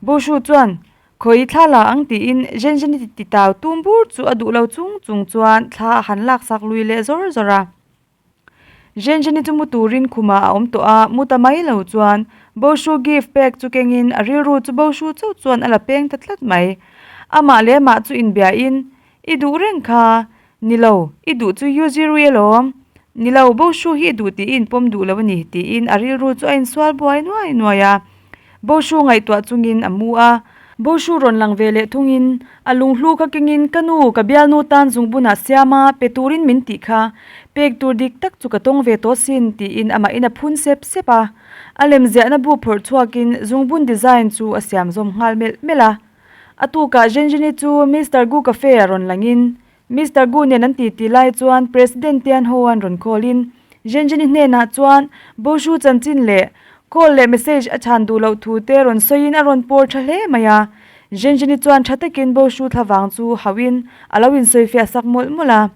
Bo Hru chuan khawi thla la ang tiin Zhenzhen i ti tau tum bur chu a duh lo chung chung chuan thla a han lak sak lui leh zawr zawr a. Zhenzhen i chu mu turin khumah a awm tawh a, mu ta mai lo chuan Bo Hru gift pack chu kengin a rilru chu Bo Hru chauh chuan a la peng ta tlat mai. Amah leh mah chu inbia in, I duh reng kha, Nilo, i duh chu Yuzi rui a lawm. Nilo, Bo Shu hi i duh tih i inpawm duh lo a ni, tiin a rilru chu a insual buai nuai nuai a. Bo Shu ngaihtuah chungin a mu a. Bo Shu rawn lang ve leh thungin a lung hlu kha kengin, Ka nu, ka bialnu tan zungbunah siama pe turin min tih kha, pek tur dik tak chu ka tawng ve tawh sin, tiin amahin a phun sep sep a. A lemziahna bu phawrh chhuakin zungbun design chu a siam zawm nghal melh melh a. A tukah Zhenzhini chu Mister Gu Cafe ah rawn langin Mister Gu nen an titi lai chuan President te an ho a an rawn callin Zhenzhini hnenah chuan Boshu chanchin leh call leh message a chhan duh loh thu te rawn sawiin a rawn pawr tha hle mai a. Zhenzhini chuan tha takin Boshu thlavang chu hauhin a lo insawi fiah sak mawlh mawlh a.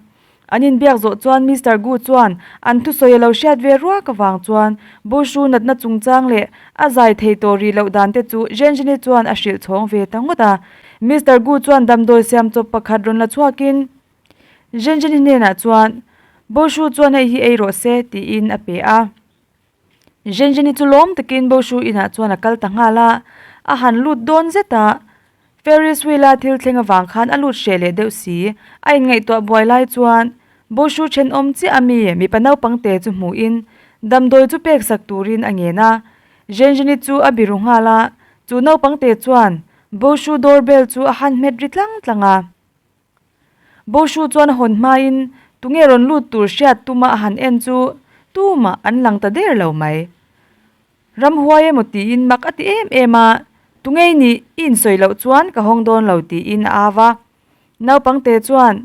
An inbiak zawh chuan Mister Gu chuan an thusawi a lo hriat ve ruak avang chuan Boshu natna chungchang leh a zai thei tawh rih loh dan te chu Zhenzhini chuan a hrilh chhawng ve ta ngawt a. Mister Gu chuan damdawi siam chawp pakhat rawn la chhuakin Zhenzhini hnenah chuan, Boshu chuan hei hi ei rawh se, tiin a pe a. Zhenzheni chu lawm takin Bo Shu Inah chuan a kal ta nghal a, a han lut dawn zet a, Ferris wheel a thil thleng avang khan a lut hreh leh deuh si. A inngaihtuah buai lai chuan Bo Shu thenawm chiah ami mipa naupang te chu hmuhin damdawi chu pek sak turin a ngen a, Zhenzheni chu a biru nghal a, chu naupang te chuan Bo Shu doorbell chu a han hmet ri tlang tlang a. Bo Hru chuan a hawn hmain, Tunge rawn lut tur hriat tuma a han en chu tumah an lang ta der lo mai. Ram huai emaw tiin mak a ti em em a, Tungei nih i insawi loh chuan ka hawng dawn lo tiin a au a. Naupang te chuan,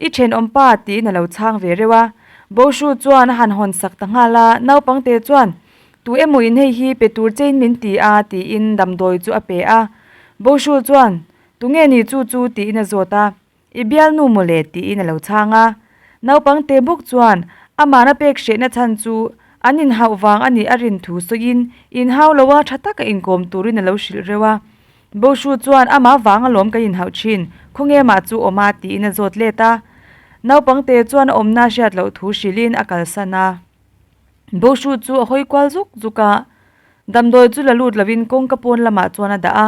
I then awm pa tiin a lo chhang ve reuh a. Bo Hru chuan a han hawn sak ta nghal a, naupang te chuan, Tu emaw in hei hi pe tur chein min ti a tiin damdawi chu a pe a. Bo Hru chuan, Tunge ni chu chu? tiin a zawt a, i bialnu maw le? tiin a lo chhang a. Naupang te buk chuan amahna pek hrehna chhan chu an inhauh vang a nih a rin thu sawiin inhau lo a tha taka inkawm turin a lo hrilh reuh a. Bo Hru chuan amah vang a lawm kan inhauh thin, khawnge mah chu awm a? tiin a zawt let a. Naupang te chuan a awmna a hriat loh thu hrilhin a kalsan a. Bo Hru chu a hawi kual zuk zuk a, damdawi chu la lut lovin kawngka pawn lamah chuan a dah a,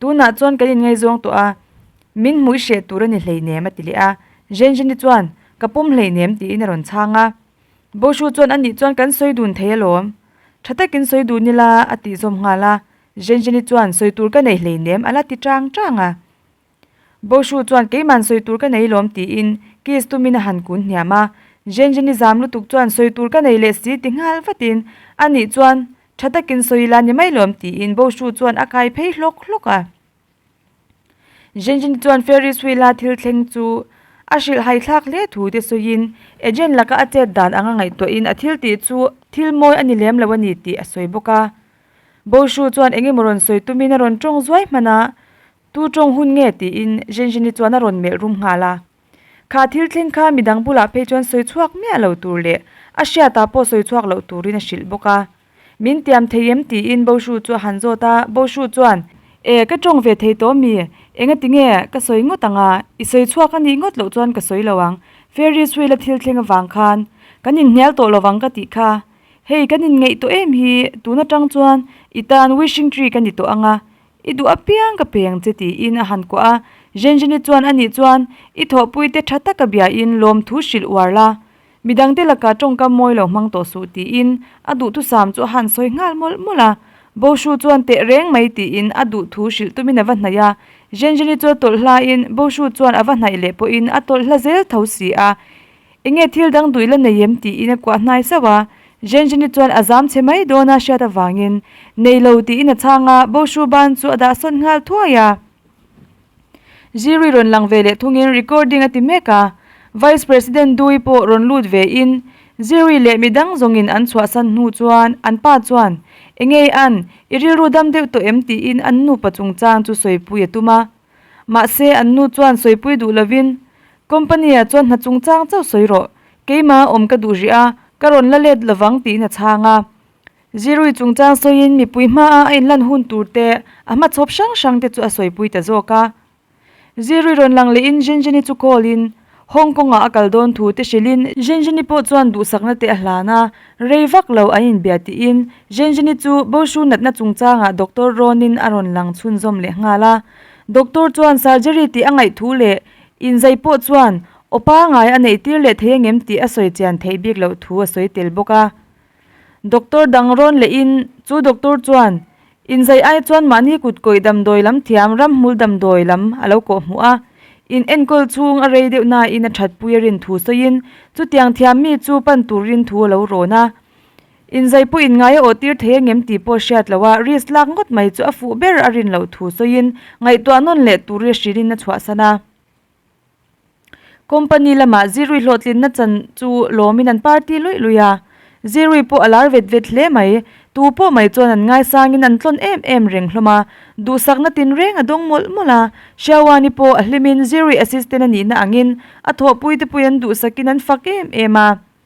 Tunah chuan kan inngaizawng tawh a, min hmuih hreh tur a ni hleinem a ti leh a. Zhenzheni chuan, Ka pawm hleinem tiin a rawn chhang a. Boshu chuan, Anih chuan kan sawi dun thei alawm. Tha takin sawi dun ila a tihzawm nghal a. Zhenzheni chuan, Sawi tur ka nei hleinem ala ti chang chang a. Boshu chuan, Keiman sawi tur ka nei lawm tiin kiss tumin a han kun hniam a. Zhenzheni zam lutuk chuan, Sawi tur ka nei leh si ti nghal vatin anih chuan Tha takin sawi ila ni mai lawm, tiin Boshu chuan a kai phei hlawk hlawk a. Zhengjin chuan Ferris Wheel a thil thleng chu a hrilh haithlak hle thu te sawiin, agent laka a chet dan anga ngaihtuahin a thil tih chu thil mawi a ni lem lo a ni tih a sawi bawk a. Boshu chuan eng emaw rawn sawi tumin a rawn tawng zuai hmana, Tu tawng hun nge? tiin Zhengjin-i chuan a rawn melh rum nghal a. Kha thil thleng kha midang bulah phei chuan sawi chhuak miah lo tur leh a hriatah pawh sawi chhuak loh turin a hrilh bawk a. Min tiam thei em? tiin Boshu chu a han zawt a, Boshu chuan. E, ka tawng ve thei tawh a mi, engatinge ka sawi ngawt ang a, i sawi chhuak a nih ngawt loh chuan ka sawi lo ang, Ferris Wheel-a thil thleng avang khan kan inhnial tawh lovang ka tih kha. Hei, kan inngeih tawh em hi, tun atang chuan i tan Wishing Tree ka ni tawh ang a, I duh apiang ka peng che tiin a han kuah a, Zhenzheni chuan a nih chuan i thawhpui te tha taka bia in lawmthu hrilh uar la, mi dangte laka tawngkam mawi lo hmang tawh suh tiin a duhthusam chu a han sawi nghal mawlh mawlh a, Bo Hru chuan teh reng mai tiin a duh thu hrilh tumin a va hnaih a, Zhenzheni chu a tawlh hlain Bo Hru chuan a va hnaih leh pawhin a tawlh hla zel tho si a, Enge thil dang duh ila nei em? tiin a kuah hnai sauh a, Zhenzhini chuan a zam che mai dawn a hriat avangin, Nei lo tiin a chhang a, Bo Hru Ban chu a dah sawt nghal thuai a, Zirui rawn lang ve leh thungin recording a ti mek a, Vice President Dui pawh rawn lut ve in, Zirui leh mi dang zawngin an chhuahsan hnu chuan an pa chuan, Enge an i rilru dam deuh tawh em? tiin an nupa chungchang chu sawipui a tum a, Mahse, an nu chuan sawipui duh lovin, Company-a chuan hna chungchang chauh sawi rawh, keimah awm ka duh rih a, ka rawn la let lovang tiin a chhang a. Zirui chungchang sawiin mipui hmaa a inlan hun turte, a hmachhawp hrang hrangte chu a sawipui ta zawk a. Zirui rawn lang lehin Zhenzhen-i chu call-in, Hong Kong-ah a kal dawn thu te hrilhin Zhenzhini pawh chuan duhsakna te a hlan a, rei vak lo an inbia tiin Zhenzhini chu Boshu natna chungchangah Doctor Ronin a rawn lang chhunzawm leh nghal a. Doctor chuan surgery tih a ngaih thu leh inzai pawh chuan opa ngai a neih tir leh thei a ngem tih a sawi chian theih bik loh thu a sawi tel bawk a. Doctor dang rawn leh in chu doctor chuan in zaih ai chuan mahni kut kawih damdawi lam thiam ram hmul damdawi lam a lo kawh hmu a, in enkawl chhung a rei deuh nain a thatpui a rin thu sawi in chu tiang thiam mi chu pan tur rin thu a lo rawn a, in zai pawh in ngai a aw tir thei angem tih pawh a hriat lo a, risk lak ngawt mai chu a fuh ber a rin lo thu sawi in ngaihtuah nawn leh tur i a hrilh in a chhuah san a, Company lamah Zirui hlawhtlinna chan chu lawmin an par ti luih luih a, Zirui pawh a lar vet vet hle mai. Tu pawh mai chuan an ngaisangin an tlawn em em reng hlawm a, duhsakna tinreng a dawng mawlh mawlh a. Shiawani pawh a hlimin Zirui assistant a nihna angin a thawhpui te pawhin an duhsakin an fak em em a.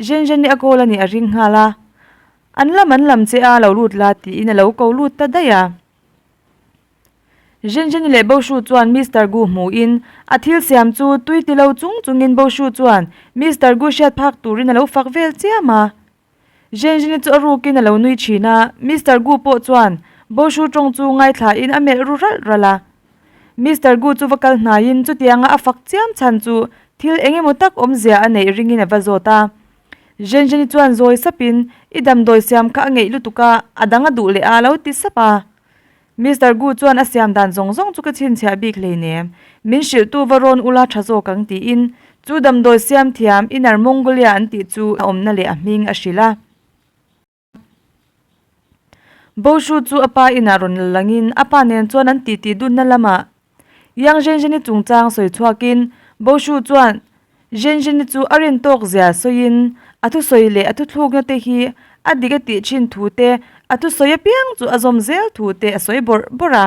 Zhen Zhen i a call a nih a ring nghal a, an lam an lam che a lo lut la tiin a lo ko lut ta daih a. Zhen Zhen i leh Bo Hru chuan Mister Gu hmuh in a thil siam chu tui ti lo chung chung in Bo Hru chuan Mister Gu hriat phak tur in a lo fak vel chiam a. Zhen Zhen i chu a ruk in a lo nui thin a, Mister Gu pawh chuan Bo Hru tawng chu ngaithla in a melh ru ralh ralh a. Mister Gu chu va kal hnaiin chutianga a fak chiam chhan chu thil eng emaw tak awmzia a neih ringin a va zawt a. Zhenzheni chuan zawi sapin, I damdawi siam kha a ngeih lutuk a, a dang a duh leh a, a lo ti sap a. Mister Gu chuan a siam dan zawng zawng chu ka chhinchhiah bik hlei nem. Min hrilhtu va rawn ula tha zawk ang tiin chu damdawi siam thiam inner Mongolia an tih chu a awmna leh a hming a hrilh a. Boshu chu a pa inah rawn la langin a pa nen chuan an titi dunna lamah Yang Zhenzheni chungchang sawi chhuakin Boshu chuan Zhenzheni chu a rin tawk zia sawiin a thusawi leh a thuthlukna te hi a dik a tih thin thu te, a thusawi apiang chu a zawm zel thu te a sawi bawrh bawrh a.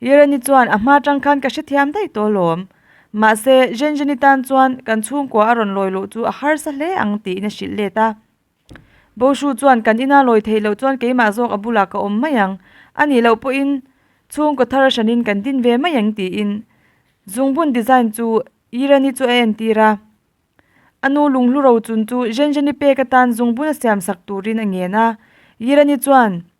Irani chuan a hma tang khan ka hrethiam daih tawh alawm. Mahse, Zhenzheni tan chuan kan chhungkua a rawn lawi loh chu a harsa hle ang tiin a hrilh let a. Bo Shu chuan kan ina lawi theih loh chuan keimah zawk a bulah ka awm mai ang. A nih loh pawhin chhungkaw thar a hranin kan din ve mai ang tiin zungbun design chu Irani chu a entir a. A nu Lunghlu Rauchun chu Zhenzheni pek atan zungbun a siam sak turin a ngen a. Irani chuan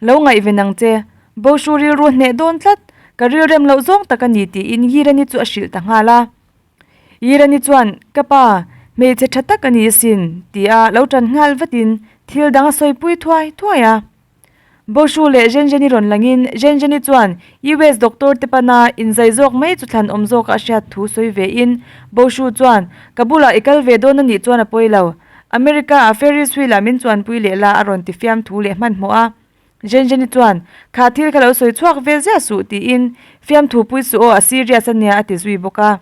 Lo ngaihven ang che, Boshu rilru hneh dawn tlat, ka rilrem loh zawng tak a ni tiin Yirani chu a hrilh ta nghal a. Yirani chuan, Ka pa, hmeichhe tha tak a ni asin, tia lo tan nghal vatin thil dang a sawi pui thuai thuai a. Boshu leh Zhenzheni rawn langin Zhenzheni chuan US doctor te pana inzai zawk mai chu thlan awm zawka a hriat thu sawi vein Boshu chuan, Ka bulah i kal ve dawn anih chuan a pawi lo, America-a Ferris wheel ah min chuanpui leh la a rawn ti fiam thu leh hmanhmawh a. Zhenzheni chuan, Kha thil ka lo sawi chhuak vel ziah suh, tiin, Fiam thu pui suh aw, a serious a nia, a ti zui bawk a.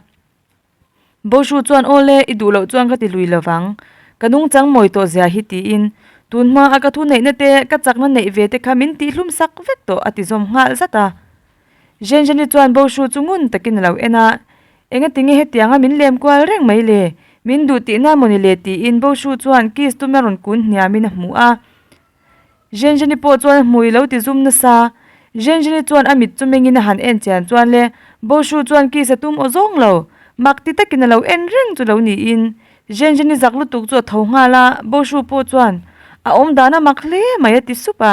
Bo Hru chuan, Aw le, i duh loh chuan ka ti lui lo vang. Ka nung chang mawi tawh zia hi, tiin, Tunhma a ka thu neihna te, ka chakna neih ve te kha min tih hlum sak vek tawh, a ti zawm nghal zat a. Zhenzheni chuan bo hru chu ngun takin a lo en a, Enga tinge hetianga min lem kual reng mai le? Min duh tih nan maw ni le? tiin bo hru chuan kiss tum na rawn kun hniamin a hmu a. Zhenzheni pawh chuan a hmui lo ti zum nasa. Zhenzheni chuan a mit chu mengin a han en chian chuan le, bo hru chuan kiss a tum aw zawng lo. Mak ti takin a lo en reng chu lo niin, Zhenzheni zak lutuk chu a tho nghal a, bo hru pawh chuan, A awm dan a mak hle mai a ti sup a.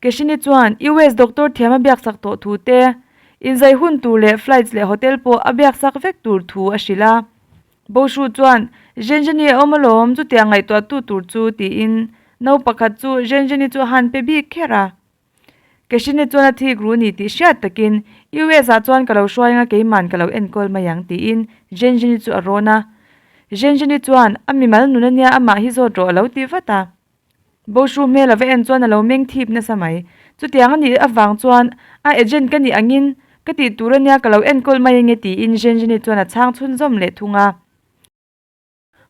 Keshini chuan US doctor thiam a biaksak tawh thu te, inzai hun tur leh flights leh hotel pawh a biaksak vek tur thu a hrilh a. Bo Hru chuan, Zhenzheni a awm alawm, chutiang ngaihtuahtu tur chu, tiin no pakhat chu Zhenzheni chu a han pe bik kher a. Keshini chuan a thik ru ni tih hriat takin, US ah chuan ka lo hruai ang a, keiman ka lo enkawl mai ang, tiin Zhenzheni chu a rawn a. Zhenzheni chuan, a mimal nun ania, amah hi zawt rawh a lo ti vat a. Bo hru hmel a va en chuan a lo meng thip nasa mai. Chutiang a nih avang chuan, A agent ka nih angin, ka tih tur a nia ka lo enkawl mai ange tiin Zhenzheni chuan a chhang chhun zawm leh thung a.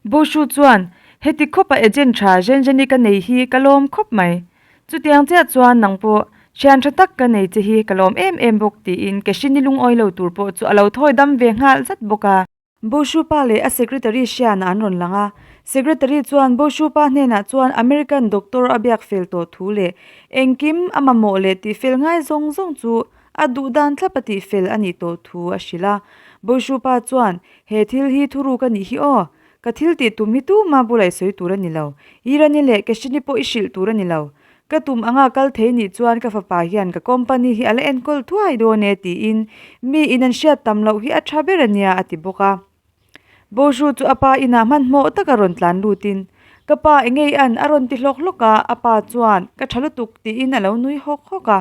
Bo hru chuan, Heti khawpa agent tha Zhenzheni ka nei hi ka lawm khawp mai. Chutiang chiah chuan nang pawh thian tha tak ka nei che hi ka lawm em em bawk tiin Keshini lungawilo tur pawh chu a lo thawi dam ve nghal zat bawk a. Bo Hru Pa leh a secretary Siana an rawn lang a. Secretary chuan Bo Hru Pa hnenah chuan American doctor a biak fel tawh thu leh engkim a mamawh leh tih fel ngai zawng zawng chu a duh dan thlap a tih fel a nih tawh thu a hrilh a. Bo Hru Pa chuan, He thil hi thuruk a nih hi aw. Ka thil tih tum hi tuma bu laihsawi tur a ni lo. Irani leh Kashini pawh i hrilh tur a ni lo. Ka tum anga kal thei nih chuan ka fapa hian ka company hi a la enkawl thuai dawn e tiin mi in an hriat tam loh hi a tha ber a nia a ti bawk a. Bozhu chu a pa inah hmanhmawh taka rawn tlan lutin, Ka pa enge i an? a rawn ti hlawk hlawk a, a pa chuan ka tha lutuk tiin a lo nui hawk hawk a.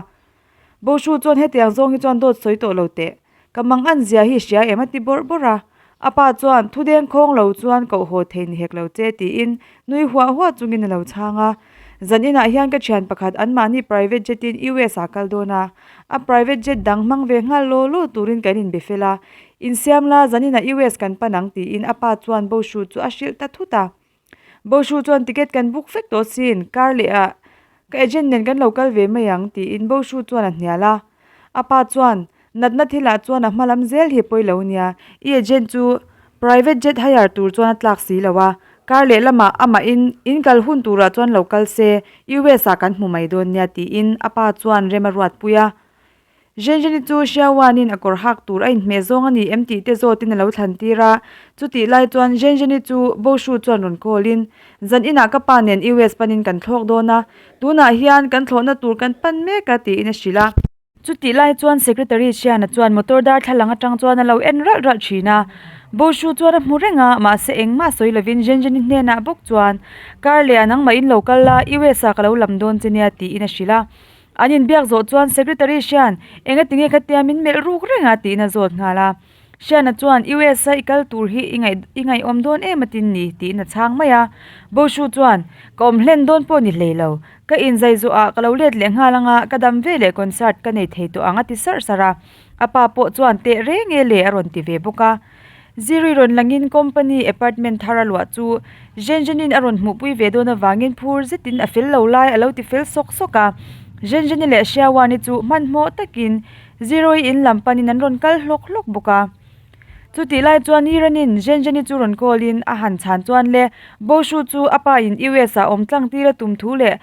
Bo Hru chuan hetiang zawng hi chuan dawt sawi tawh lo teh, ka mang an zia hi hria em a ti bawrh bawrh a. A pa chuan thudeng khawng lo chuan koh haw thei ni hek lo che tiin nui huah huah chungin a lo chhang a. Zan inah hian ka thian pakhat anmahni private jet in US ah kal dawn a, a private jet dang hmang ve nghal law law turin kan inbe fel a. Insiam la zan inah US kan pan ang tiin a pa chuan Bo Hru chu a hrilh ta thut a. Bo Hru chuan ticket kan book vek tawh sin, kar leh ah ka agent nen kan lo kal ve mai ang tiin Bo Hru chuan a hnial a. A pa chuan, Natna thil ah chuan a hma lam zel hi pawi lo nia, i agent chu private jet hire tur chuan a tlak si lo a, kar leh lam ah a mah in in kal hun tur ah chuan lo kal se, US ah kan hmu mai dawn nia tiin a pa chuan rem a ruat pui a. Zhenjani chu Hriawanin a kawr hak tur a inhmeh zawng a ni em tih te zawtin a lo thlan tir a, chutih lai chuan Zhenjani chu Boshu chuan rawn call-in, Zan inah ka pa nen US panin kan thlawk dawn a, tunah hian kan thlawhna tur kan pan mek a tiin a hrilh a. Chutih lai chuan Secretary Chiana chuan motor darthlalang atang chuan a lo en ralh ralh thin a, Boshu chuan a hmu reng a, mahse engmah sawi lovin Zhenjani hnenah bawk chuan, Kar leh a nangmahin lo kal la, US-ah ka lo lam dawn che nia tiin a hrilh a. An inbiak zawh chuan Secretary Hrian enga tinge ka tia min melh ruk reng a tiin a zawt nghal a. Hriana chuan US-a i kal tur hi i ngaih i ngaihawm dawn em atin ni tiin a chhang mai a. Bo Hru chuan, Ka awm hlen dawn pawh ni hlei lo. Ka inzai zawh ah ka lo let leh nghal anga ka dam ve leh concert ka nei thei tawh ang a ti sarh sarh a. A pa pawh chuan teh reng e le a rawn ti ve bawk a. Ziri rawn langin company apartment thar a luah chu Zhenzhenin a rawn hmuhpui ve dawn avangin phur zetin a fel lo lai a lo ti fel sawk sawk a. Zhenzheni leh Hriawani chu hmanhmawh takin Ziroi in lam panin an rawn kal hlawk hlawk bawk a. Chutih lai chuan Iranin Zhenzheni chu rawn callin a han chhan chuan le Boshu chu a pa in US ah awm tlang tir a tum thu leh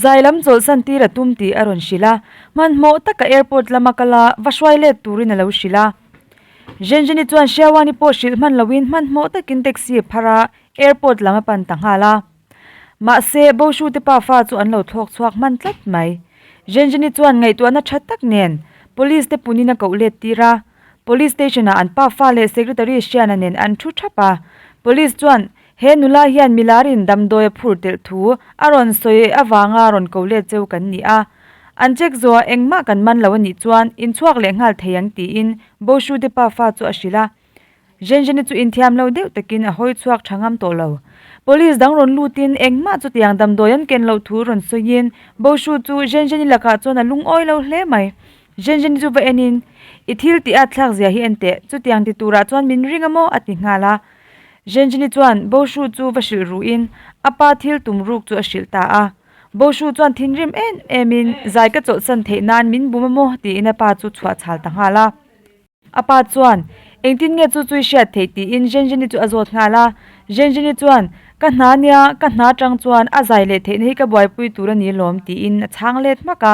zai lam chawlhsan tir a tum tih a rawn hrilh a. Hmanhmawh taka airport lama kala va hruai let turin a lo hrilh a. Zhenzheni chuan Sherwani pawh hrilh hman loin hmanhmawh takin taxi a phar a, airport lam a pan ta nghal a. Mahse, Boshu te pa fa chu an lo thlawk chhuak hman tlat mai. Zhenzheni chuan ngaihtuahna tha tak nen, police te punin a koh let tir a. Police station-ah an pa fa leh secretary Shiana nen an thu thap a. Police chuan He nula hian milarin damdawi a phur telh thu a rawn sawi avanga rawn ko let cheu kan ni a, an check zawha engmah kan man lo a nih chuan inchhuak leh nghal thei ang tiin Bo Hrude pa fa chu a hrilh a. Zhenzheni chu inthiam lo deuh takin a hawi chhuak tha ngam tawh lo. Police dang rawn lutin engmah chutiang damdawi an ken loh thu rawn sawiin Bo Hru chu Zhenzheni lakah chuan a lungawi lo hle mai. Zhenzheni chu va enin, I thil tih a thlak zia hi en teh, chutiang ti turah chuan min ring a maw? a ti nghal a. Zhengjini chuan Bo Hru chu va hrilh ruh in a pa thil tum ruk chu a hrilh ta a. Bo Hru chuan thinrim em em in Zai ka chawlhsan theih nan min bum a maw tiin a pa chu chhuah chhal ta nghal a. A pa chuan Engtin nge chu chu i hriat theih tiin Zhengjini chu a zawt nghal a. Zhengjini chuan Ka hna nia ka hna tang chuan a zai leh theihna hi ka buaipui tur a ni lawm tiin a chhang let hmak a.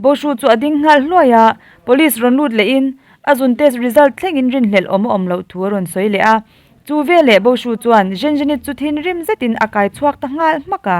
Boshu chu a ding nghal hluai a, police rawn lut leh in a zun test result thleng in rin hlelh awm a awm loh thu a rawn sawi leh a. Chu ve leh Boshu chuan Zhenzhenit chu thinrim zet in a kai chhuak ta nghal hmak a.